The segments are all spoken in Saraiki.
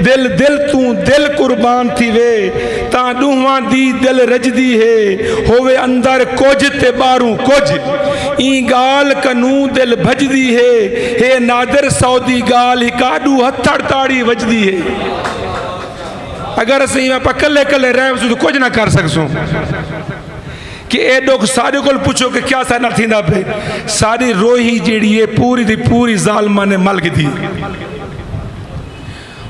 دل دل توں دل قربان تھیوے تاں ݙونہواں دی دل رڄدی ہے ہووے اندر کجھ تے ٻاہروں کجھ ایں ڳالھ کنوں دل بھڄدی ہے ہے نادر سو دی ڳالھ ہک آݙو ہتھڑ تاڑی وڄدی ہے اگر اساں ایویں پا کلھے کلھے رہ وسوں تاں کجھ نہ کر سڳسوں کہ اے ݙکھ ساݙے کول پچھو کہ کیا ساݙے نال تھیندا پئے ساݙی روہی جیڑھی ہے پوری دی پوری ظالماں نے مل گھدی ہے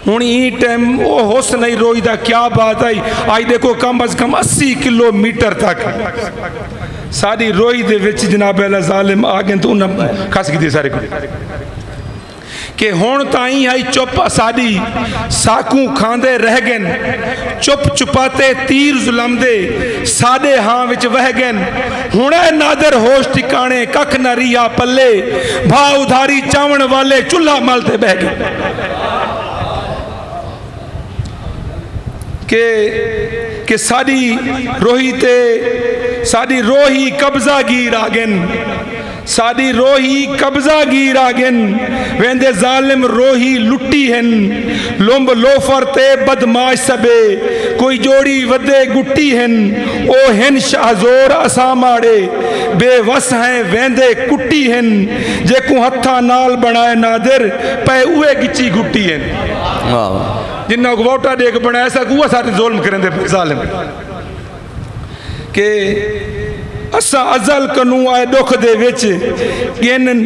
ہن ایں ٹیم او حسن ای روئی دا کیا بات آئی آئی دیکھو کم از کم اسی کلو میٹر تک ساری روئی دے وچ جناب اللہ ظالم آگن تو انہاں کھس گی دی سارے کو کہ ہون تائیں آئی چپ اسادی ساکوں کھاندے رہ گن چپ چپاتے تیر ظلم دے سادے ہاں وچ وہ گن ہݨے نادر ہوش ٹھکاݨے ککھ نہ ریہا پلے بھا ادھاری چاوݨ والے چلھا مل تے ٻہہ ڳئے کہ کہ ساݙی روہی تے ساݙی روہی قبضہ گیر آڳن ساݙی روہی قبضہ گیر آگن ویندے ظالم روہی لٹی ہن لمب لوفر تے بدمعاش سبے کوئی جوڑی ودے گٹی ہن او ہن شاہ زور اساں ماڑے بے وس ہیں ویندے کٹی ہن جیکوں ہتھاں نال بݨائے نادر پئے اوہے گچی گھٹی ہن جنہاں کوں ووٹاں ݙے کے بݨائے ساکوں اوہ ساݙے ظلم کریندے پئے ظالم۔ کہ اساں ازل کنوں آئے ڈکھ دے وچ گن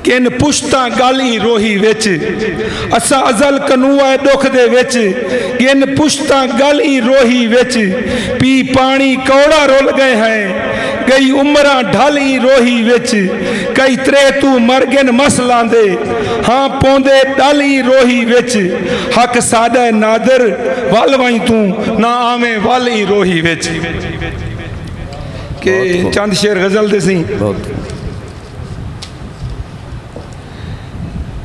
گن پشتاں گل ای روہی وچ اساں ازل کنوں آئے ڈکھ دے وچ گن پشتاں گل ای روہی وچ پی پانی کوڑا رول گئے ہیں گئی عمراں ڈھل ای روہی وچ کئی تریتو مر گن مس لاندے ہاں پوندے ڈل ای روہی وچ حق ساڈا ہے نادر ول وائیں توں نہ آویں ول ای روہی وچ کہ چند شعر غزل دے سیں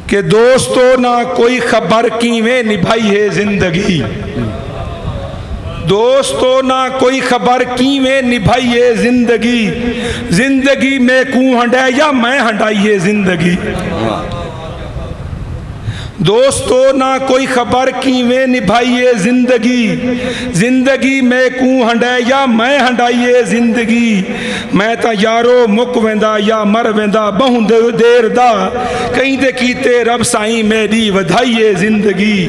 کہ دوستو نہ کوئی خبر کیویں نبھائی ہے زندگی دوستو نہ کوئی خبر کیویں نبھائی ہے زندگی زندگی میں کوں ہنڈے یا میں ہنڈائی ہے زندگی دوستو نہ کوئی خبر کیویں نبھائیے زندگی زندگی میکوں ہنڈے یا میں ہنڈائیے زندگی میں تاں یارو مک ویندا یا مر ویندا بہوں دیر دا کہیں دے کیتے رب سائیں میڈی ودھائیے زندگی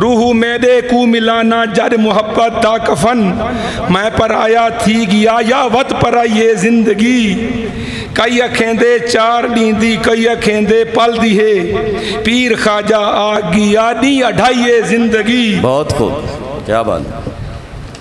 روح امیدے کوں ملانا جڈ محبت دا کفن میں پرایا تھی گیا یا وت پرائی اے زندگی کئی اکھیندے چار ڈینہہ دی کئی اکھیندے پل دی ہے پیر خواجہ آکھ گیا ڈینہہ اڈھائی اے زندگی۔ بہت خوب کیا بات ہے۔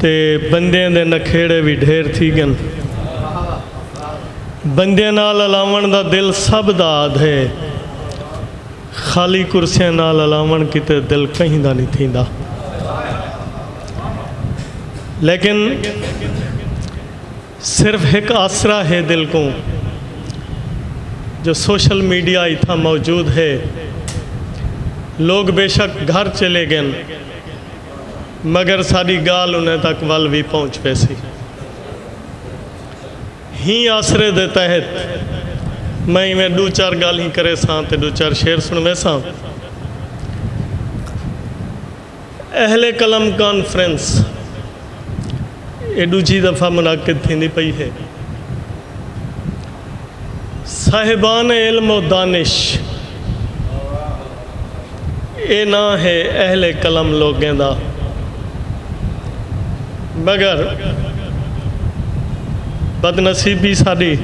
تے بندیاں دے نکھیڑے وی ڈھیر تھی گن۔ بندیاں نال الاوݨ دا دل سبھ دا آدھے۔ خالی کرسیاں نال الاوݨ کیتے دل کہیں دا نی تھیندا۔ لیکن۔ صرف ہک آسرا ہے دل کوں جو سوشل میڈیا اتھاں موجود ہے۔ لوگ بے شک گھر چلے گن مگر ساڈی گالھ انہیں تک ول وی پہنچ ویسی۔ ہیں آسرے دے تحت میں ایویں ڈو چار گالھیں کریساں تے ڈو چار شعر سنویساں۔ اہل قلم کانفرنس اے ڈوجھی دفعہ منعقد تھیندی پئی ہے۔ صاحبان علم و دانش اے ناں ہے اہل قلم لوگیں دا مگر بدنصیبی ساڈی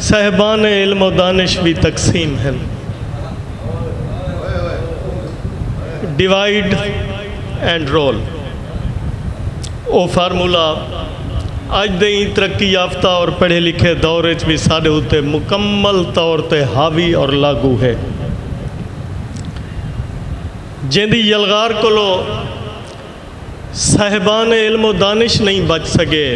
صاحبان علم و دانش وی تقسیم ہن۔ ڈیوائیڈ اینڈ رول او فارمولا اج دے ایں ترقی یافتہ اور پڑھے لکھے دور اچ وی ساڈے اتے مکمل طور تے حاوی اور لاگو ہے جیندی یلغار کولو صاحبان علم و دانش نئیں بچ سگے۔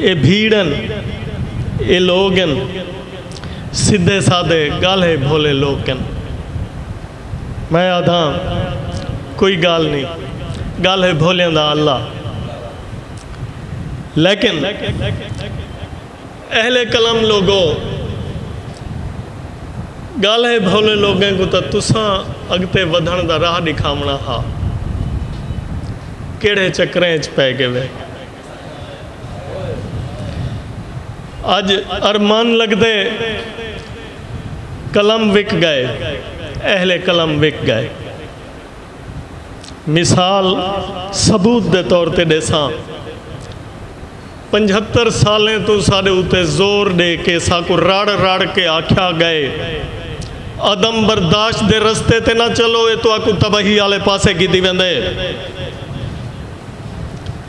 اے بھیڑ ہن اے لوگ ہن سدھے سادھے گالھے بھولے لوک ہن میں آدھاں کوئی گال نہیں گالھے بھولیاں دا اللہ لیکن اہل قلم لوگو! ڳالھے بھولے لوگیں کوں تاں تساں اڳتے ودھݨ دا راہ ݙکھاوݨا ہا، کیڑھے چکریں اچ پئے ڳیوے۔ اڄ ارمان لڳدے قلم وک ڳئے، اہل قلم وک ڳئے۔ مثال ثبوت دے طور تے ݙیساں۔ پنجھتر سالیں توں ساݙے اتے زور ݙے کے ساکوں رڑ رڑ کے آکھیا ڳئے عدم برداشت دے رستے تے نہ چلو اے تہاکوں تباہی آلے پاسے گھدی ویندے۔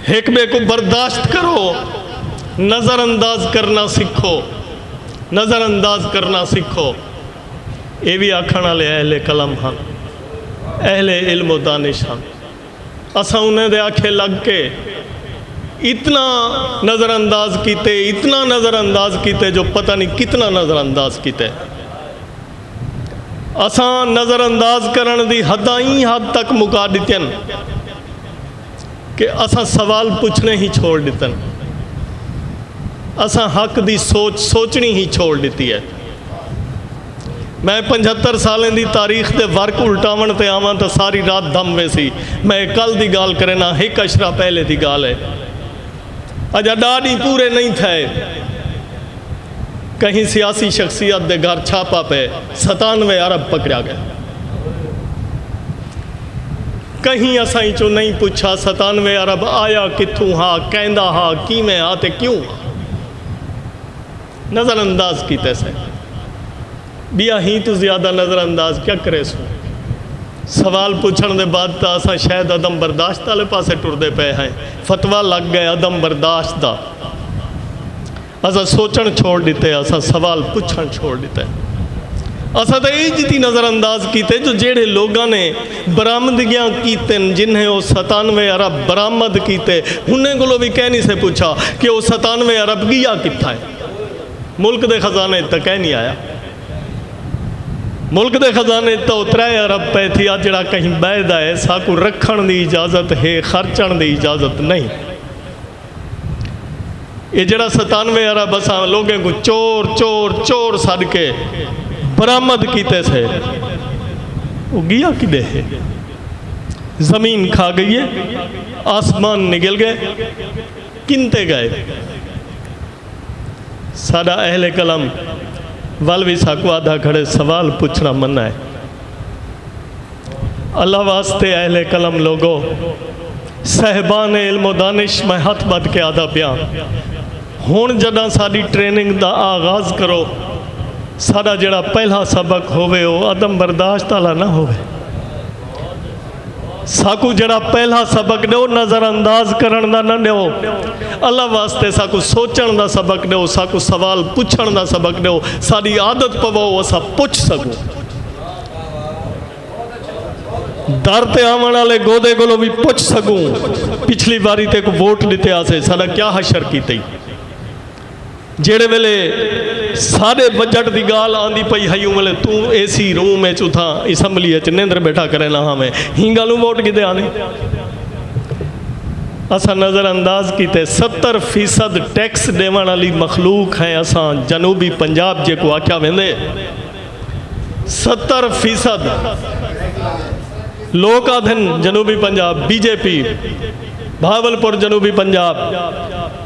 ہک ٻئے کوں برداشت کرو نظر انداز کرݨا سکھو نظر انداز کرݨا سکھو۔ اے وی آکھݨ آلے اہل قلم ہن، اہل علم و دانش ہن۔ اساں انھیں دے آکھے لڳ کے اتنا نظر انداز کیتے، اتنا نظر انداز کیتے جو پتہ نی کتنا نظر انداز کیتے۔ اساں نظر انداز کرݨ دی حداں ایں حد تک مکا ݙتن کہ اساں سوال پچھݨے ہی چھوڑ ݙتن۔ اساں حق دی سوچ سوچݨی ہی چھوڑ ݙتی اے۔ میں پنجھتر سالیں دی تاریخ دے ورق الٹاوݨ تے آواں تاں ساری رات دھم ویسی۔ میں اے کل دی گالھ کرینداں، ہک عشرہ پہلے دی گالھ اے۔ اجا ݙاہ ݙینھ پورے نئیں تھئے، کہیں سیاسی شخصیت دے گھر چھاپہ پئے، ستانوے ارب پکڑیا ڳئے۔ کہیں اساں اچوں نئیں پچھا، ستانوے ارب آیا کتھوں ہا، کیندا ہا، کیویں ہا تے کیوں ہا۔ نظر انداز کیتے سے بیا ہی توں زیادہ نظر انداز کیا کرے سوں سوال پوچھن دے بعد تا اساں شاید عدم برداشت آلے پاسے ٹر دے پے ہیں فتوہ لگ گئے عدم برداشت دا اساں سوچن چھوڑ ڈیتے اساں سوال پوچھن چھوڑ ڈیتے اساں تا ایج دی نظر انداز کیتے جو جیڑے لوگاں نے برآمدگیاں کیتن جنہیں او ستانوے ارب برآمد کیتے انہیں کولوں وی کہیں نی سے پچھا کہ او ستانوے ارب گیا کتھاں ہے ملک دے خزانے اچ تاں کہیں نی آیا ملک دے خزانے اچ تاں او ترے ارب پئے تھی آ جیڑھا کہیں بئے دا ہے ساکوں رکھن دی اجازت ہے خرچن دی اجازت نہیں۔ اے جیڑھا ستانوے ارب اساں لوگیں کوں چور چور چور سڈ کے برآمد کیتے سے او گیا کدھے ہے؟ زمین کھا گئی ہے، آسمان نگل گئے، کنتے گئے؟ ساڈا اہل قلم ول وی ساکوں آدھا کھڑے سوال پچھنا منع ہے۔ اللہ واسطے اہل قلم لوگو، صاحبان علم و دانش میں ہتھ بدھ کے آدھا پیاں ہن جڈاں ساڈی ٹریننگ دا آغاز کرو ساڈا جیڑھا پہلا سبق ہووے او عدم برداشت آلا نہ ہووے۔ ساکوں جیڑھا پہلا سبق ݙیو نظر انداز کرݨ دا نہ ݙیو۔ اللہ واسطے ساکوں سوچݨ دا سبق ݙیو، ساکوں سوال پچھݨ دا سبق ݙیو، ساݙی عادت پواؤ اساں پچھ سڳوں۔ در تے آوݨ آلے گودے کولوں وی پچھ سڳوں، پچھلی واری تیکوں ووٹ ݙتے ہاسے، ساݙا کیا حشر کیتے؟ جیڑھے ویلے ساڈے بجٹ دی گالھ آندی پئی ہئی اوں ویلے توں اے سی روم اچ اتھاں اسمبلی اچ نیندر بیٹھا کرینداں ہاویں ہی گالھوں ووٹ گھدے آنے اساں نظر انداز کیتے ستر فیصد ٹیکس ڈیونڑ آلی مخلوق ہیں اساں جنوبی پنجاب جیکو آکھیا ویندے ستر فیصد لوک آدھن جنوبی پنجاب بی جے پی بھاول پور جنوبی پنجاب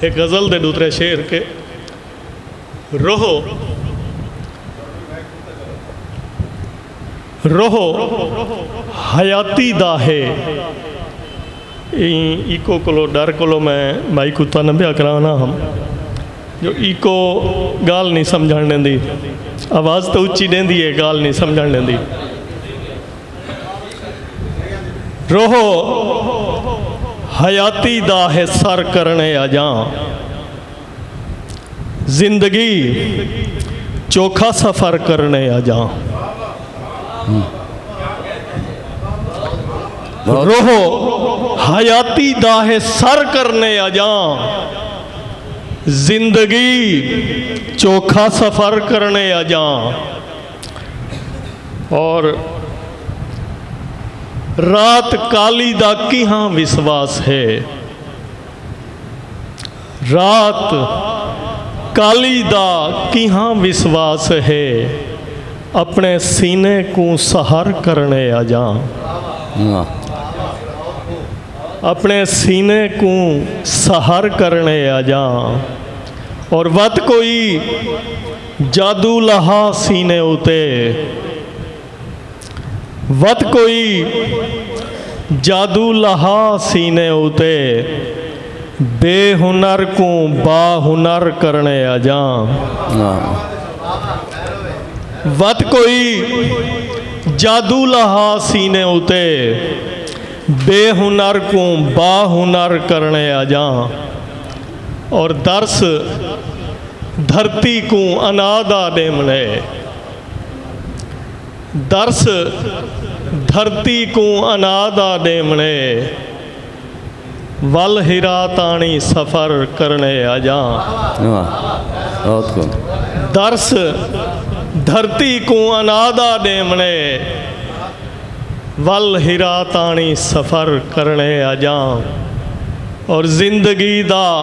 اے غزل دے ݙوترے شعر کہ روہ روہ حیاتی دا ہے ایں ایکو کولو ڈر کولو میں بھائی کوں تنگ پیا کرانا ہم جو ایکو گال نہیں سمجھن ݙیندی آواز تے اچی ݙیندی ہے گال نہیں سمجھن ݙیندی روح حیاتی دا ہے سر کرنے اجاں زندگی چوکھا سفر کرنے اجاں روح حیاتی دا ہے سر کرنے اجاں زندگی چوکھا سفر کرنے اجاں اور رات کالی دا کیہاں وسواس ہے رات کالی دا کیہاں وسواس ہے اپنے سینے کو سہر کرنے آ جاں اپنے سینے کو سہر کرنے آ جاں اور وقت کوئی جادو لہا سینے اتے۔ ود کوئی جادو لہا سینے اتے۔ بے ہنر کوں با ہنر کرنے آجاں۔ ود کوئی جادو لہا سینے اتے۔ بے ہنر کوں با ہنر کرنے آجاں۔ اور درس۔ دھرتی کوں انا دا ݙیوݨ اے۔ درس، دھرتی کوں انا دا ݙیوݨ اے۔ ول حرا تاݨی سفر کرݨ اے اڄاں۔ درس، دھرتی کوں انا دا ݙیوݨ اے۔ ول حرا تاݨی سفر کرݨ اے اڄاں۔ اور زندگی دا۔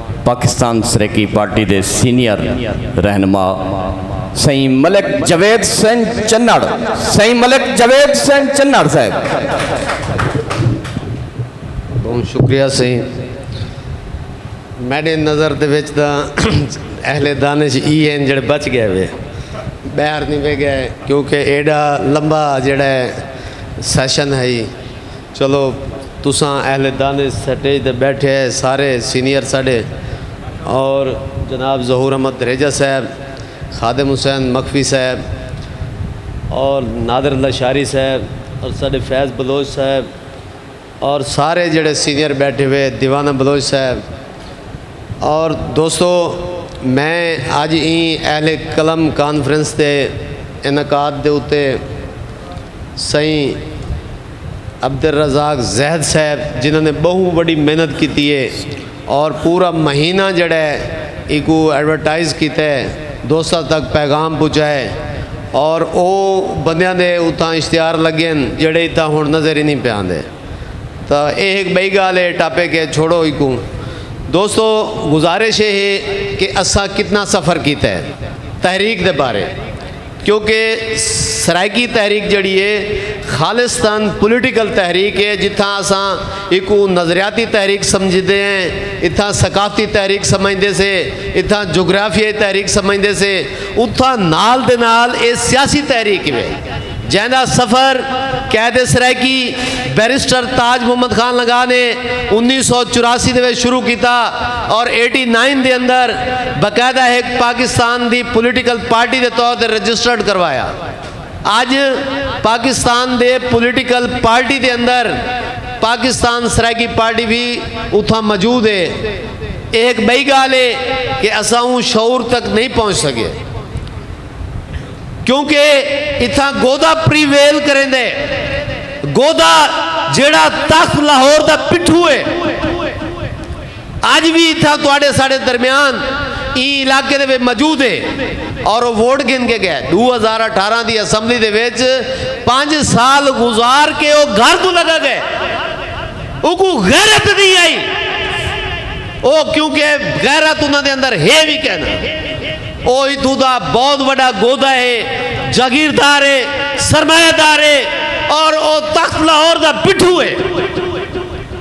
پاکستان سریکی پارٹی دے سینئر رہنما سئیں ملک جاوید حسین چنڑ سئیں ملک جاوید حسین چنڑ صاحب بہت شکریہ سئیں میڈے نظر دے وچ دا اہل دانش ای ہیں جڑے بچ گئے ہوئے بہر نہیں بے گئے کیونکہ ایڈا لمبا جڑے سیشن ہے چلو تساں اہل دانش سٹیج تے بیٹھے ہے سارے سینئر ساڈے اور جناب ظہور احمد دھریجہ صاحب، خادم حسین مخفی صاحب اور نادر اللہ شاعری صاحب اور ساڈے فیض بلوچ صاحب اور سارے جیڑھے سینئر بیٹھے ہوئے دیوانہ بلوچ صاحب اور دوستو میں اج ایں اہل قلم کانفرنس دے انعقاد دے اتے سئیں عبدالرزاق زہد صاحب جنہاں نے بہوں وڈی محنت کیتی ہے اور پورا مہینہ جڑا ہے ایکو ایڈورٹائز کیتا ہے دوستاں تک پیغام پہنچائے اور او بندیاں دے اتھاں اشتہار لگے ہن جڑے اتھاں ہن نظر ہی نی پے آندے تاں اے ہک بئی گال ہے ٹاپک ہے چھوڑو ایکوں دوستو گزارش اے ہے کہ اساں کتنا سفر کیتا ہے تحریک دے بارے۔ کیونکہ سرائیکی تحریک جیڑھی ہے خالصتا پولیٹیکل تحریک ہے جتھاں اساں ایکوں نظریاتی تحریک سمجھدے ہیں اتھاں ثقافتی تحریک سمجھدے سے اتھاں جغرافیائی تحریک سمجھدے سے اتھاں نال دے نال اے سیاسی تحریک وے جیندا سفر قید سرائیکی بیرسٹر تاج محمد خان لنگاہ نے انیس سو چوراسی دے وچ شروع کیتا۔ اور ایٹی نائن دے اندر باقاعدہ ہک پاکستان دی پولیٹیکل پارٹی دے طور تے رجسٹرڈ کروایا۔ اج پاکستان دے پولیٹیکل پارٹی دے اندر پاکستان سرائیکی پارٹی وی اتھاں موجود ہے۔ ایہ ہک ٻئی ڳالھ ہے کہ اساں اوں شعور تک نئیں پہنچ سڳے۔ کیونکہ اتھاں گودا پریویل کریندے۔ گودا جیڑھا تخت لاہور دا پٹھو ہے۔ اج وی اتھاں تہاڈے ساڈے درمیان ایں علاقے دے وچ موجود ہے اور او ووٹ گھن کے گئے۔ ݙو ہزار اٹھارہ دی اسمبلی دے وچ پنج سال گزار کے او گھر توں لڳا گئے۔ اونکوں غیرت نی آئی۔ او کیوں کہ غیرت انہاں دے اندر ہے وی کینا۔ او اتھوں دا بہت وݙا گودا ہے، جاگیردار ہے، سرمایہ دار ہے اور او تخت لاہور دا پٹھو ہے۔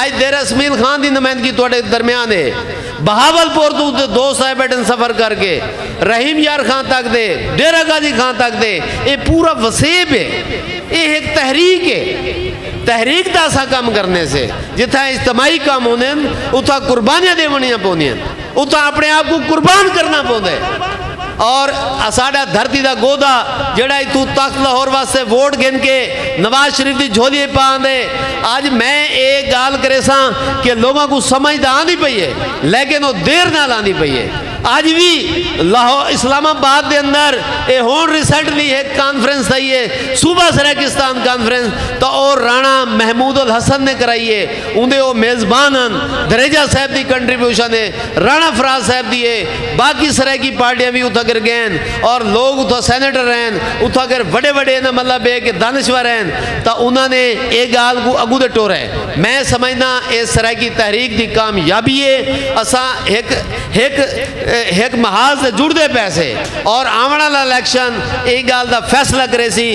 اج دیر اسمیل خان دی نمائندگی تہاڈے درمیان ہے۔ بہاول پور توں تے دو سائے بیٹھن سفر کر کے رحیم یار خان تک تے ڈیرہ غازی خان تک تے ایہ پورا وسیب ہے۔ ایہ ہک تحریک ہے۔ تحریک دا اساں کم کرنے سے۔ جتھاں اجتماعی کم ہوندے ہن اتھاں قربانیاں ڈیونیاں پوندیاں ہن۔ اتھاں اپنے آپ کو قربان کرنا پوندے اور اساڈا دھرتی دا گودا جڑا اتھو تخت لاہور واسطے ووٹ گھن کے نواز شریف دی جھولی پا آندے اج میں اے گال کرے سا کہ لوگوں کو سمجھ دا آندی پئی ہے لیکن وہ دیر نال آندی پئی ہے اج بھی لاہور اسلام آباد دے اندر اے ہون ریسنٹلی ایک کانفرنس تھئی ہے صوبہ سرائے کستان کانفرنس تو اور رانا محمود الحسن نے کرائی ہے اوندے او میزبان ہن۔ دھریجہ صاحب دی کنٹریبیوشن اے۔ رانا فراز صاحب دی اے۔ باقی سرائیکی پارٹیاں وی اتھاں کر گئین اور لوگ اتھاں سینیٹر ہین۔ اتھاں کر وڈے وڈے ایندا مطلب اے کہ دانشور ہین۔ تاں انہاں نے اے گال کوں اگوں دے ٹورے۔ میں سمجھداں اے سرائیکی تحریک دی کامیابی اے۔ اساں ہک ہک ہک محاذ تے جڑدے پئے سے اور آونڑ آلا الیکشن ایں گال دا فیصلہ کریسی۔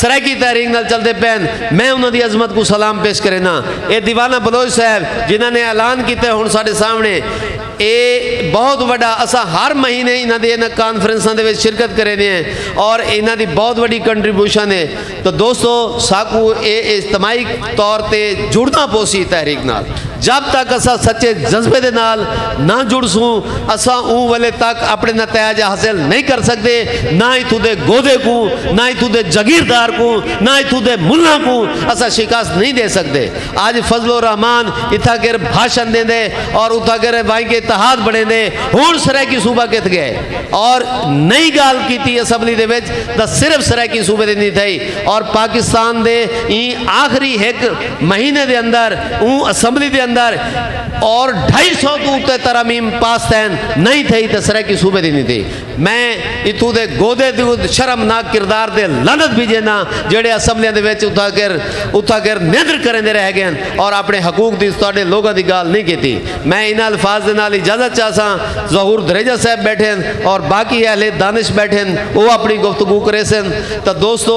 سرائیکی تحریک نال چلدے پئے ہن، میں انہاں دی عظمت کوں سلام پیش کرینداں۔ اے دیوانہ بلوچ صاحب جنہاں نے اعلان کیتے ہن ساڈے سامنے اے بہت وڈا اساں ہر مہینے انہاں دی انہاں کانفرنساں دے وچ شرکت کریندے ہیں اور انہاں دی بہت وڈی کنٹریبیوشن ہے تو دوستو ساکوں اے اجتماعی طور تے جڑنا پوسی تحریک نال۔ جب تک اساں سچے جذبے دے نال نہ جڑسوں اساں اوں ویلے تک اپنے نتائج حاصل نئیں کر سکدے نہ اتھوں دے گودھے کوں نہ اتھوں دے جگیردار کوں نہ اتھوں دے ملاں کوں اساں شکست نئیں ڈے سکدے اج فضل الرحمان اتھاں گر بھاشن ڈیندے اور اتھاں گر وائیں کے اتحاد بنڑیندے ہن سرائیکی صوبہ کتھ گئے اور نئی گال کیتی اسمبلی دے وچ تاں صرف سرائیکی صوبے دی نی تھئی اور پاکستان دے ایں آخری ہک مہینے دے اندر اوں اسمبلی دے اندر اور ڈھائی سو توں اتے ترامیم پاس تین نہیں تھئی تے سرائیکی صوبے دی نہیں تھی میں اتو دے گودے دے شرمناک کردار دے لنت بھی جینا جڑے اسمبلیاں دے ویچ اتھا کر اتھا کر نیندر کریں دے رہ گئے ہیں اور اپنے حقوق دی ساڑے لوگوں دی گال نہیں کیتی میں انہا الفاظ دے نال اجازت چاہسا ظہور دریجہ صاحب بیٹھیں اور باقی اہل دانش بیٹھیں وہ اپنی گفتگو کرے سن تا دوستو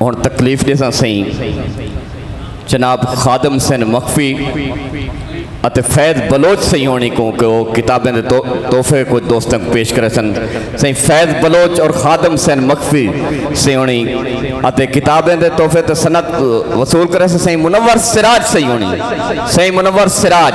ہن تکلیف دے ساں سئیں جناب خادم سن مخفی اتے فیض بلوچ سہی ہونی کوں کہ وہ کتابیں دے تحفے کو دوستوں کو پیش کرے سن سہی فیض بلوچ اور خادم سین مخفی سہی ہونی اتے کتابیں دے تحفے تے سنت وصول کرے سن سہی منور سراج سہی ہونی سہی منور سراج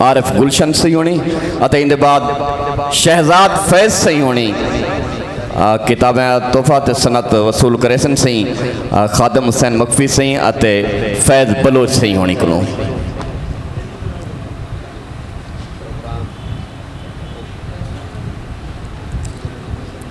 عارف گلشن سی ہونی اتے اندے بعد شہزاد فیض سی ہونی کتابیں تحفہ تے سنت وصول کرے سن سی خادم حسین مکفی سی اتے فیض بلوچ سی ہونی کلوں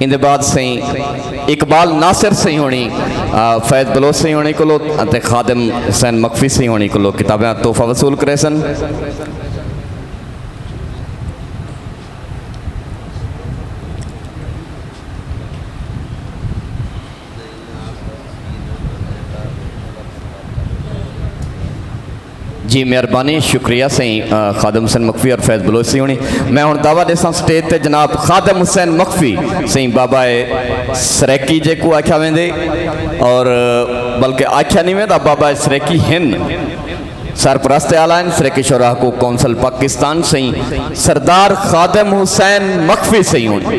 ان دے بعد سائیں اقبال ناصر سائیں ہونی فیض بلوچ سائیں ہونی کلو تے خادم حسین مکفی سائیں ہونی کلو کتابیں تحفہ وصول کرے سن جی مہربانی شکریہ سائیں خادم حسین مخفی اور فیض بلوچ سی ہونی میں ہن دعویٰ دے ساں سٹیج تے جناب خادم حسین مخفی سائیں بابا سریکی جے کو آکھیا ویندے اور بلکہ آکھیا نہیں ویندا بابا سریکی ہن سرپرست اعلان سریکی شورا کو کونسل پاکستان سائیں سردار خادم حسین مخفی سائیں ہونی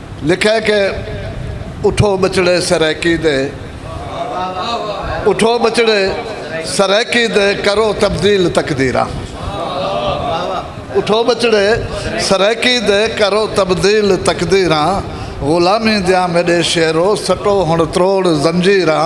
لکھے کہ اٹھو ٻچڑے سرائیکی دے اٹھو ٻچڑے سرائیکی دے کرو تبدیل تقدیراں اٹھو ٻچڑے سرائیکی دے کرو تبدیل تقدیراں غلامی دیاں میݙے شیرو سٹو ہݨ تروڑ زنجیراں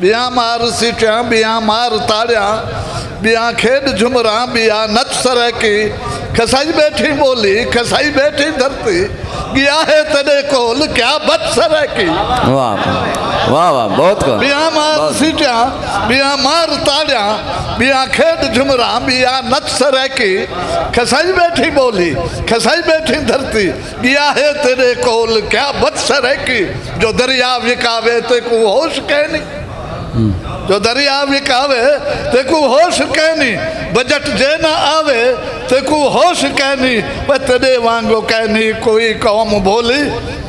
ٻیاں مار سیٹیاں ٻیاں مار تاڑیاں ٻیاں کھیݙ جھمراں ٻیاں نچ سرائیکی کھسائی ٻیٹھی ٻولی کھسائی ٻیٹھی دھرتی ڳیا ہے تیݙے کول کیا بچ سرائیکی واہ واہ واہ بہت کو ٻیاں مار سیٹیاں ٻیاں مار تاڑیاں ٻیاں کھیݙ جھمراں ٻیاں نچ سرائیکی کھسائی ٻیٹھی ٻولی کھسائی ٻیٹھی دھرتی ڳیا ہے تیݙے کول کیا بد سرائیکی جو دریا وکاوے تیکوں ہوش کینی جو دریا وکاوے تیکوں ہوش کینی بجٹ جے نہ آوے تیکوں ہوش کینی وہ تیݙے وانگو کینی کوئی قوم بھولی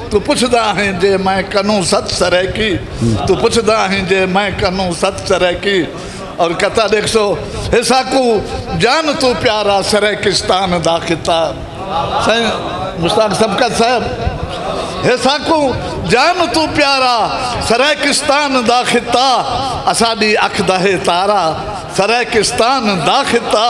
تو پچھدا ہیں جے میں کنوں ست سرائیکی تو پچھدا ہیں جے میں کنوں ست سرائیکی اور کتا دیکھ سو حصہ کو جان تو پیارا سرے کستان دا کتا سائن مشتاق سبکت صاحب حصہ کو جان تو پیارا سرے کستان دا کتا اسا دی اکھ دہے تارا سرے کستان دا کتا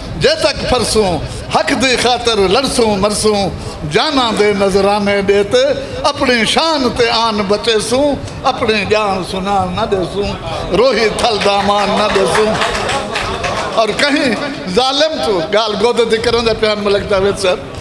جے تک پھرسوں حق دی خاطر لڑسوں مرسوں جاناں دے نذرانے ݙے تے اپݨی شان تے آن بچیسوں اپݨی ڄاݨ سنان نہ ݙیسوں روہی تھل دامان نہ ݙیسوں اور کہیں ظالم تو گال گودے دی کرن دے پیان ملک جاوید صاحب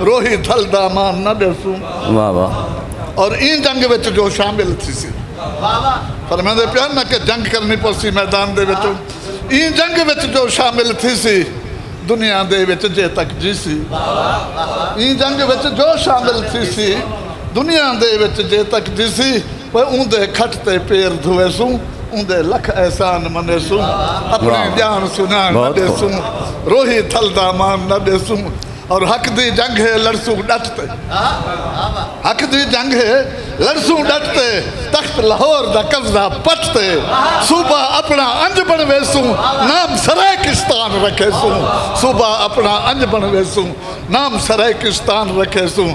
روہی دھل دا مان نہ ڈیسوں واہ واہ اور این جنگ وچ جو شامل تھی سی فرمائیں دے پیان نہ کہ جنگ کرنی پوسی میدان دے وچوں این جنگ وچ جو شامل تھی سی دنیا دے وچ جے تک جی سی این جنگ وچ جو شامل تھی سی دنیا دے وچ جے تک جی سی وہ اون دے کھٹ تے پیر دھوئے سوں اون دے لکھ احسان منے سوں اپنے جان سنان نہ دے سوں روہی دھل دا مان نہ دے سوں اور حق دی جنگ ہے لڑسوں ڈٹتے حق دی جنگ ہے لڑسوں ڈٹتے تخت لاہور دا قبضہ پٹتے صوبہ اپنا انج بن ویسوں نام سرے کستان رکھے سوں صوبہ اپنا انج بن ویسوں نام سرے کستان رکھے سوں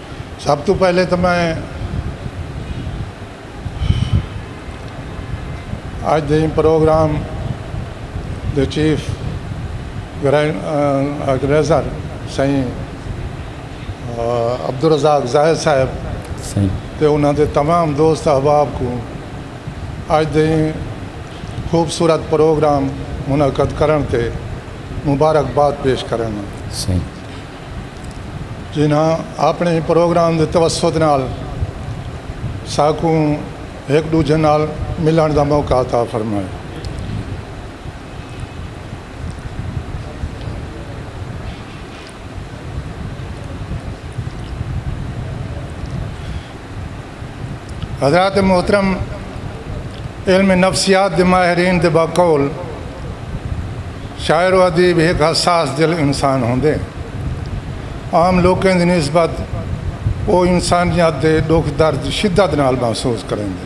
سب توں پہلے تاں میں اج دے ایں پروگرام دے چیف آرگنائزر سئیں عبدالرزاق زاہد صاحب تے انہاں دے تمام دوست احباب کوں اج دے ایں خوبصورت پروگرام منعقد کرݨ تے مبارکباد پیش کرینداں۔ جنہاں آپݨے پروگرام دے توسط نال ساکوں ہک ݙوجھے نال ملݨ دا موقع عطا فرمائے۔ حضرات محترم علم نفسیات دے ماہرین دے بقول شاعر و ادیب ہک حساس دل انسان ہوندے۔ عام لوکیں دی نسبت او انسانیت دے ڈکھ درد شدت نال محسوس کریندے۔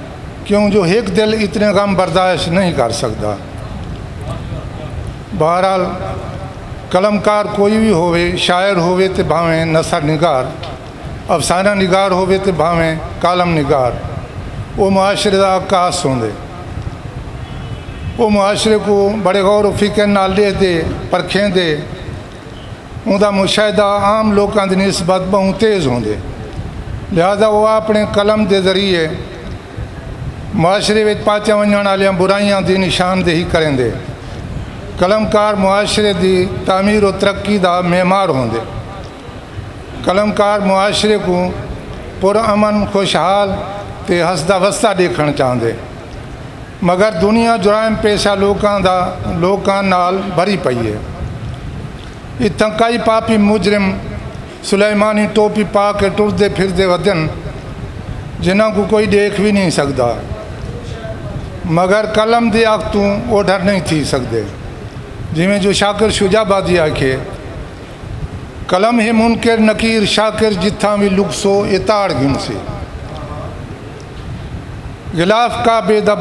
کیوں جو ہک دل اتنے غم برداشت نہیں کر سکدا۔ بہرحال قلم کار کوئی وی ہووے شاعر ہووے تے بھانویں نثر نگار، افسانہ نگار ہووے تے بھانویں کالم نگار او معاشرے دا عکاس ہوندے۔ او معاشرے کوں بڑے غور و فکر نال ݙیہدے، پرکھیندے اوندا مشاہدہ عام لوکاں دی نسبت ٻہوں تیز ہوندے لہذا او آپݨے قلم دے ذریعے معاشرے وچ پاچیاں ونڄݨ آلیاں برائیاں دی نشاندہی کریندے۔ قلمکار معاشرے دی تعمیر و ترقی دا معمار ہوندے۔ قلمکار معاشرے کوں پر امن، خوشحال تے ہسدا وسدا ݙیکھݨ چاہندے۔ مگر دنیا جرائم پیشہ لوکاں دا لوکاں نال بھری پئی اے اتھاں کئی پاپی مجرم سلیمانی ٹوپی پا کے ٹردے پھردے ودن جنہاں کوں کوئی ڈیکھ وی نئیں سگدا مگر قلم دی اکھ توں اوڈھر نئیں تھی سگدے جیویں جو شاکر شجاع آبادی آکھیے قلم ہے منکر نکیر شاکر جتھاں وی لکسو اے تاڑ گھنسی۔ غلاف کعبے دا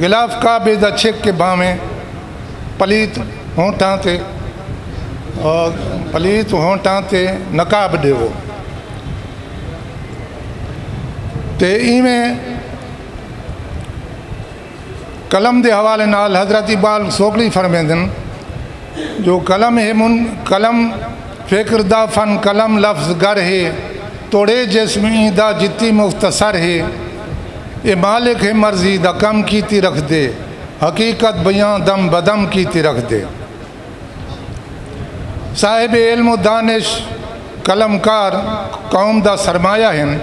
غلاف کعبے دا چھک کے بھانویں پلیت ہونٹاں تے پلیت ہونٹاں تے نقاب ݙیوو تے ایویں قلم دے حوالے نال حضرت اقبال سوکڑی فرمیندن جو قلم ہے من قلم فکر دا فن قلم لفظ گر ہے توڑے جسم ایں دا جتی مختصر ہے اے مالک ہے مرضی دا کم کیتی رکھدے حقیقت بیاں دم بدم کیتی رکھدے صاحب علم و دانش قلم کار قوم دا سرمایہ ہن۔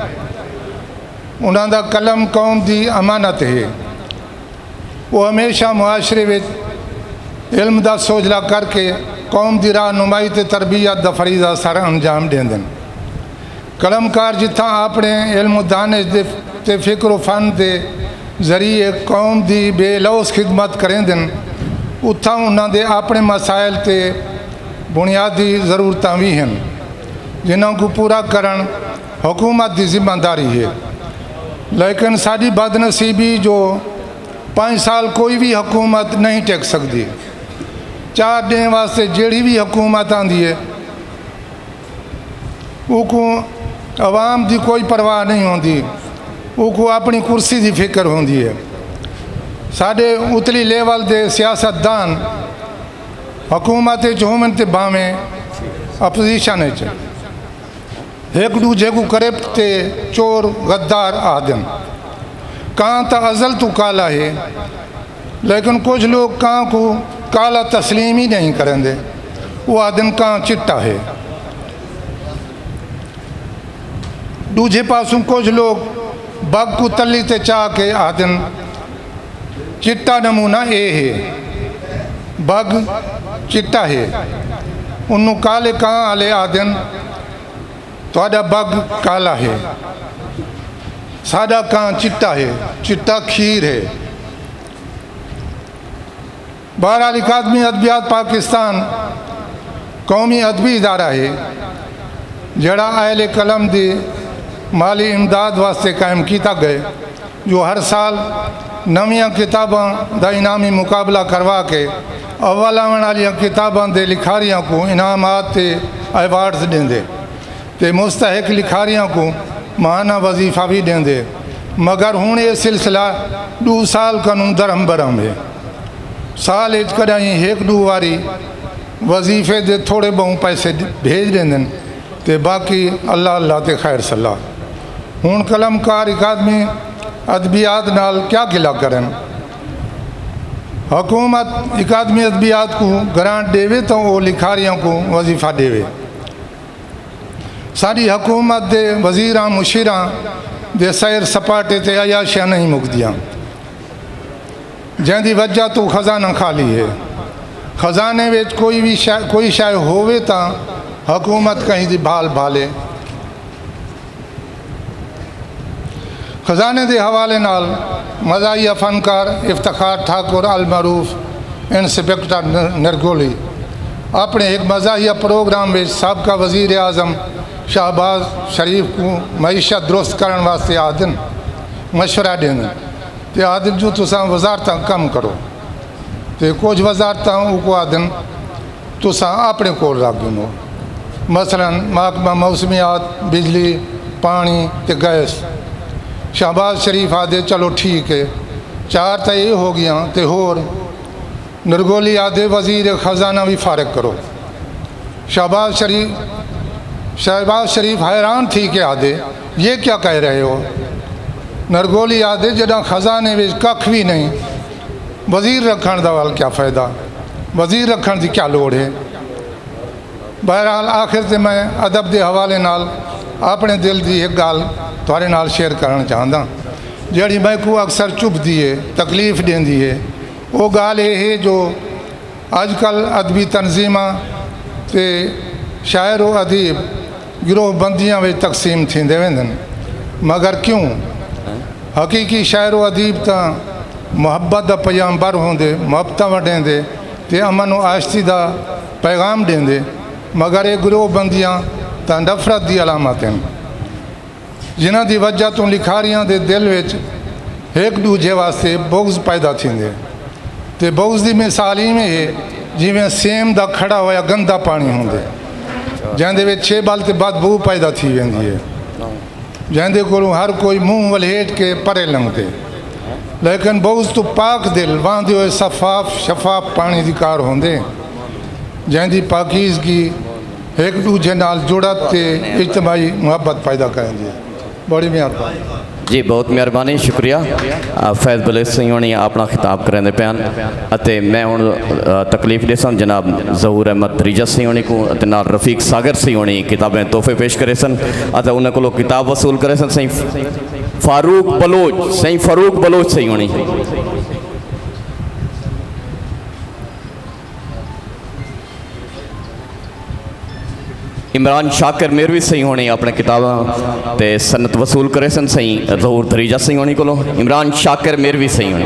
انہاں دا قلم قوم دی امانت ہے۔ او ہمیشہ معاشرے وچ علم دا سوجھلا کر کے قوم دی راہ نمائی تے تربیت دا فریضہ سر انجام ڈیندن۔ قلم کار جتھاں آپنڑے علم و دانش دے تے فکر و فن دے ذریعے قوم دی بے لوث خدمت کریندن اتھاں انہاں دے آپنڑے مسائل تے بنیادی ضرورتاں وی ہن جنہاں کوں پورا کرنڑ حکومت دی ذمہ داری ہے لیکن ساڈی بد نصیبی جو پنج سال کوئی وی حکومت نہیں ٹک سکدی چار ڈینھ واسطے جیڑھی وی حکومت آندی ہے اوکوں عوام دی کوئی پرواہ نہیں ہوندی اوکوں اپنی کرسی دی فکر ہوندی ہے ساڈے اتلی لیول دے سیاست دان حکومت وچ ہوون تے بھاویں اپوزیشن وچ ہک ڈوجھے کوں کرپٹ تے چور غدار آہدن۔ کاں تاں ازل توں کالا ہے لیکن کجھ لوک کاں کوں کالا تسلیم ای نئیں کریندے او آہدن کاں چٹا ہے۔ ڈوجھے پاسوں کجھ لوک بگ کوں تلی تے چا کے آہدن۔ چٹا نمونہ اے ہے۔ بگ چٹا ہے۔ انوں کالے کاں آلے آہدن۔ تہاڈا بگ کالا ہے۔ ساڈا کاں چٹا ہے۔ چٹا کھیر ہے۔ بہرحال اکادمی ادبیات پاکستان قومی ادبی ادارہ ہے جیڑھا اہل قلم دی مالی امداد واسطے قائم کیتا گئے جو ہر سال نویاں کتاباں دا انعامی مقابلہ کروا کے اول آون آلیاں کتاباں دے لکھاریاں کوں انعامات تے ایوارڈز ڈیندے تے مستحق لکھاریاں کوں ماہانہ وظیفہ وی ڈیندے مگر ہن اے سلسلہ ڈو سال کنوں درہم برہم ہے۔ سال اچ کݙاہیں ہک ݙو واری وظیفے دے تھوڑے ٻہوں پیسے بھیڄ ݙیندن تے باقی اللہ اللہ تے خیر صلاح۔ ہݨ قلم کار اکادمی ادبیات نال کیا گھلا کرن۔ حکومت اکادمی ادبیات کوں گرانٹ ݙیوے تاں او لکھاریاں کوں وظیفہ ݙیوے۔ ساݙی حکومت دے وزیراں مشیراں دے سیر سپاٹے تے عیاشیاں نئیں مکدیاں۔ جیں دی وجہ توں خزانہ خالی ہے۔ خزانے وچ کوئی وی شے کوئی شے ہووے تاں حکومت کہیں دی بھال بھالے۔ خزانے دے حوالے نال مزاحیہ فنکار افتخار ٹھاکر المعروف انسپکٹر نرگولی اپݨے ہک مزاحیہ پروگرام وچ سابقہ وزیر اعظم شہباز شریف کوں معیشت درست کرݨ واسطے آہدن مشورہ ݙیندن۔ تے آدھن جو تساں وزارتاں کم کرو تے کجھ وزارتاں اوکوں آدھن تساں اپنے کول رکھ گھنو مثلا محکمہ موسمیات، بجلی، پاݨی تے گیس۔ شہباز شریف آدھے چلو ٹھیک اے چار تاں اے ہو ڳیاں تے ہور؟ نرگولی آدھے وزیر خزانہ وی فارغ کرو۔ شہباز شریف شہباز شریف حیران تھی کے آدھے یہ کیا کہہ رہے ہو؟ نرگولی آدھے جڈاں خزانے وچ ککھ وی نئیں وزیر رکھنڑ دا ول کیا فائدہ وزیر رکھنڑ دی کیا لوڑھ ہے۔ بہرحال آخر تے میں ادب دے حوالے نال اپنڑے دل دی ہک گالھ تہاڈے نال شیئر کرنڑ چاہنداں جیہڑی میکوں اکثر چبھدی ہے تکلیف ڈیندی ہے۔ او ڳالھ اے ہے جو اڄ کل ادبی تنظیماں تے شاعر و ادیب گروہ بندیاں وچ تقسیم تھیندے ویندن مگر کیوں؟ حقیقی شاعر و ادیب تاں محبت دا پیام بر ہوندے، محبتاں ونڈیندے تے امن و آشتی دا پیغام ݙیندے مگر اے گروہ بندیاں تاں نفرت دی علامت ہن۔ جنہاں دی وجہ توں لکھاریاں دے دل وچ ہک ڈوجھے واسطے بغض پیدا تھیندے تے بغض دی مثال ایویں ہے جیویں سیم دا کھڑا ہویا گندا پانی ہوندے جیندے وچ چھیبل تے بد بو پیدا تھی ویندی ہے جیندے کولوں ہر کوئی منہ ولھیٹ کے پرے لنگدے لیکن بغض تو پاک دل واندے ہوئے صفاف شفاف پانی دی کار ہوندے جیندی پاکیزگی ہک ڈوجھے نال جڑت تے اجتماعی محبت پیدا کریندی ہے۔ بڑی مہربانی۔ جی بہت مہربانی شکریہ فیض بلیسنگ ہونی اپنا خطاب کریندے پیان اتے میں ہن تکلیف ڈیسن جناب ظہور احمد دریجہ سی ہونی کوں اتے نال رفیق ساگر سی ہونی کتابیں تحفے پیش کریسن اتے انہاں کولو کتاب وصول کریسن سائیں فاروق بلوچ سائیں فاروق بلوچ سی ہونی۔ عمران شاکر میروی سہی ہونی اپنے کتاباں تے سنت وصول کرے سن سہی ظہور دریجہ سہی ہونی کو لو عمران شاکر میروی سہی ہونی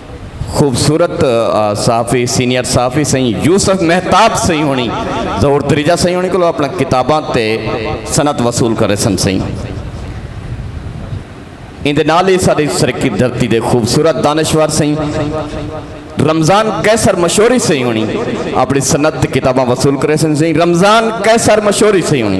خوبصورت صحافی سینئر صحافی سائیں یوسف محتاب سائیں ہونی ظہور تریجہ سائیں ہونی کلو اپنا کتاباں تے سنت وصول کرے سن سائیں ان دے نال ہی ساری سرکی دھرتی دے خوبصورت دانشور سائیں رمضان قیصر مشوری سائیں ہونی اپنی سنت کتاباں وصول کرے سن سائیں رمضان قیصر مشوری سائیں ہونی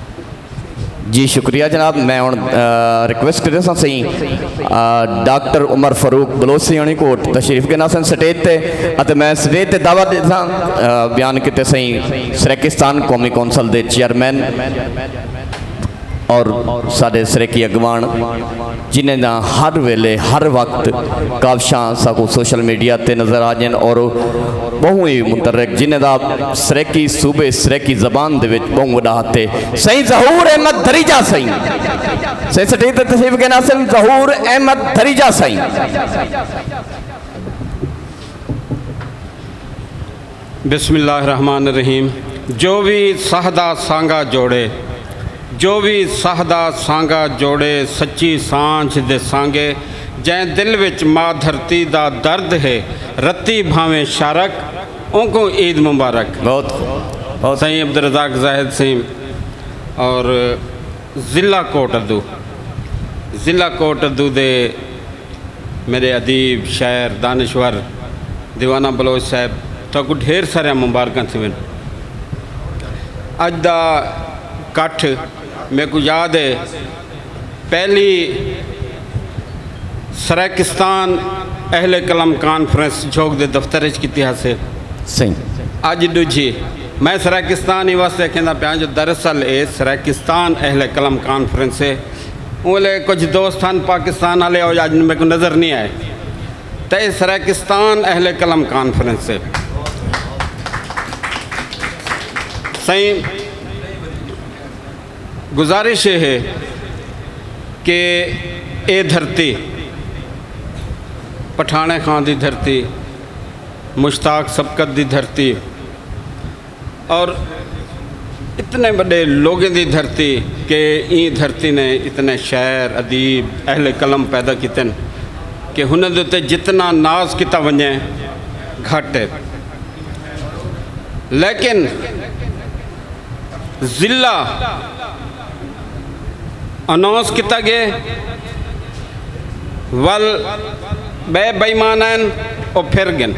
جی شکریہ جناب میں ہوں ریکویسٹ کرے سا سہی ڈاکٹر عمر فاروق بلوسی ہونی کو تشریف کے ناسن سٹیج تے اتے میں سٹیج تے دعوت دے سا بیان کیتے سہی سریکستان قومی کونسل دے چیئرمین اور سارے سریکی اگوان جنہیں دا ہر ویلے ہر وقت کاوشاں ساکو سوشل میڈیا تے نظر آجن اور بہوں ہی مترک جنہیں دا سریکی صوبے سریکی زبان دے وچ بہوں وڈا ہتے سہی ظہور احمد دھریجہ سہی سہی سٹھی تے تشریف کے ناصل ظہور احمد دھریجہ سہی بسم اللہ الرحمن الرحیم جو وی ساہ دا سانگا جوڑے جو وی ساہ دا سانگا جوڑے سچی سانجھ دے سانگے جئیں دل وچ ما دھرتی دا درد ہے رتی بھانویں شارک اونکوں عید مبارک بہت خوب بہت سائیں عبدالرزاق زاہد سیم اور ضلع کوٹ ادو ضلع کوٹ ادو دے میڈے ادیب، شاعر، دانشور دیوانہ بلوچ صاحب تہاکوں ڈھیر ساریاں مبارکاں تھیون۔ اج دا کٹھ میکوں یاد ہے پہلی سرائیکستان اہل قلم کانفرنس جھوک دے دفتر اچ کیتی ہاسے۔ اج ڈوجھی میں سرائیکستان ایں واسطے اکھیندا پیاں جو دراصل اے سرائیکستان اہل قلم کانفرنس ہے۔ اولے کجھ دوست ہن پاکستان آلے او یاجن میکوں نظر نی آئے تے اے سرائیکستان اہل قلم کانفرنس ہے سائیں گزارش اے ہے کہ اے دھرتی پٹھانے خان دی دھرتی مشتاق سبقت دی دھرتی اور اتنے بڑے لوگیں دی دھرتی کہ این دھرتی نے اتنے شاعر ادیب اہل قلم پیدا کیتن کہ ہنیں دے اتے جتنا ناز کیتا ونجے گھٹ ہے لیکن ضلع اناؤنس کیتا گئے ول بے بےمان ہیں او پھر گن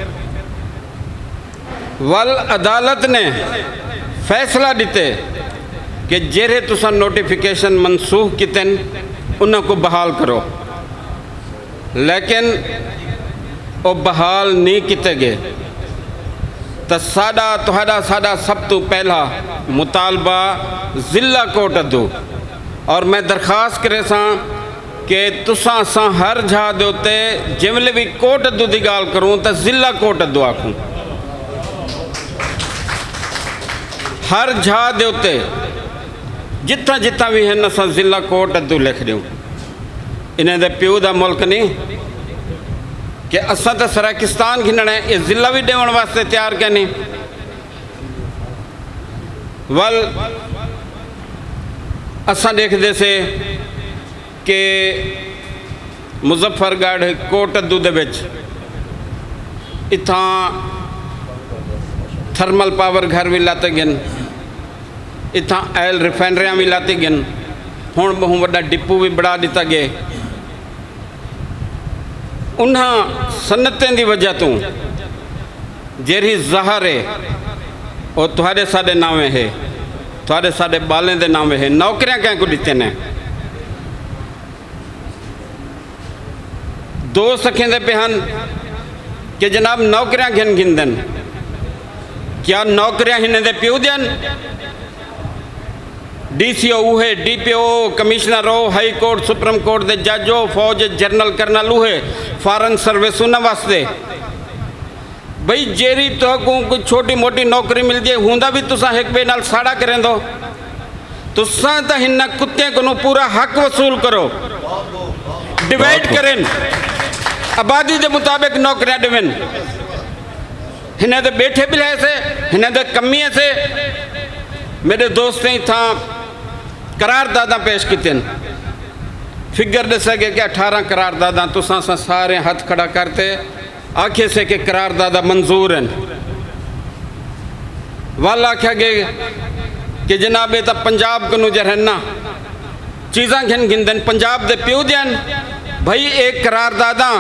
ول عدالت نے فیصلہ ڈتے کہ جیرھے تساں نوٹیفکیشن منسوخ کیتن انہاں کوں بحال کرو لیکن او بحال نی کیتے گئے تاں ساڈا تہاڈا ساڈا سب توں پہلا مطالبہ ضلع کورٹ ادو اور میں درخواست کریساں کہ تساں اساں ہر جھا دے اتے جیویلے وی کوٹ ادو دی گالھ کروں تاں ضلع کوٹ ادو آکھوں۔ ہر جھا دے اتے جتھاں جتھاں وی ہن اساں ضلع کوٹ ادو لکھ ڈیوں۔ انہیں دے پیو دا ملک نیں کہ اساں تاں سرائیکستان گھننڑے اے ضلع وی ڈیون واسطے تیار کینے۔ ول اساں ڈیکھدے سے کہ مظفر گڑھ کوٹدو دے وچ اتھاں تھرمل پاور گھر بھی لاتے گن اتھاں آئل ریفائنریاں بھی لاتی گن ہوں بہوں وڈا ڈپو بھی بڑھا دیتا گئے انہاں سنتیں دی وجہ توں جیرھی زہر ہے او تہاڈے ساڈے ناویں ہے تہاڈے ساڈے بالیں دے ناویں ہے نوکریاں کہیں کوں ڈتیاں نے دوست اکھیندے پہ ہن کہ جناب نوکریاں گھن گھن دن کیا نوکریاں ہنے دے پیو دیاں ڈی سی او اوہے، ڈی پی او او، کمشنر او، ہائی کورٹ، سپریم کورٹ دے جج او، فوج اچ جنرل کرنل اوہے، فارن سروس انہاں واسطے بھئی جیرھی تہاکوں کوئی چھوٹی موٹی نوکری مل جے ہوندا وی تساں ہک بئے نال ساڑا کریندو تساں تاں ہناں کتیں کنوں پورا حق وصول کرو ڈیوائیڈ کرن آبادی دے مطابق نوکریاں ڈیون۔ ہنیں دے بیٹھے بلھے سے ہنیں دے کمیے سے میڈے دوستیں اتھا قرار داداں پیش کیتے ہیں فگر دے سکے کہ اٹھارہ قرار داداں تو ساں ساں سارے ہتھ کھڑا کرتے آکھے سے کہ قرار دادہ منظور ہیں والا کھا گے کہ جنابے تا پنجاب کنو جرہنہ چیزاں گھن گھندن پنجاب دے پیو دیاں بھئی اے قرارداداں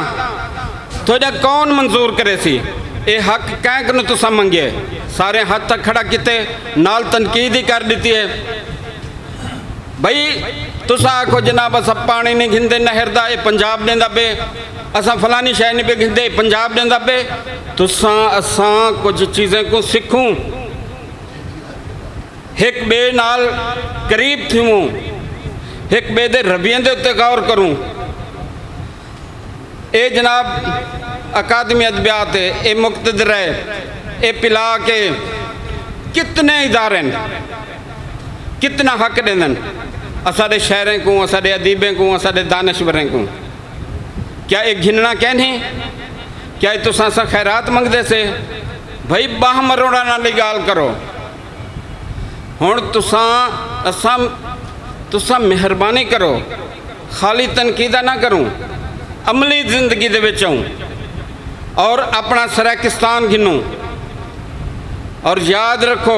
تہاڈا کون منظور کریسی اے حق کئیں کنوں تساں منگیے ساریں ہتھ تک کھڑا کیتے نال تنقید ہی کر ڈتی اے بھئی تساں آکھو جناب اساں پانی نی گھندے نہر دا اے پنجاب ڈیندا پے اساں فلانی شے نی پے گھندے اے پنجاب ڈیندا پے تساں اساں کچھ چیزیں کوں سکھوں۔ ہک ٻئے نال قریب تھیووں، ہک ٻئے دے رویے دے اتے غور کروں۔ اے جناب اکادمی ادبیات ہے، اے مقتدر ہے، اے پلاک ہے، کتنے ادارے ہن، کتنا حق ݙیندن اساݙے شاعریں کوں، اساݙے ادیبیں کوں، اساݙے دانشوریں کوں؟ کیا اے گھنݨا کینھی؟ کیا اے تساں اساں خیرات منگدے سے؟ بھئی ٻانہہ مروڑݨ آلی ڳالھ کرو۔ ہݨ تساں اساں تساں مہربانی کرو خالی تنقیداں نہ کروں عملی زندگی دے وچ آؤں اور اپݨا سرائیکستان گھنوں اور یاد رکھو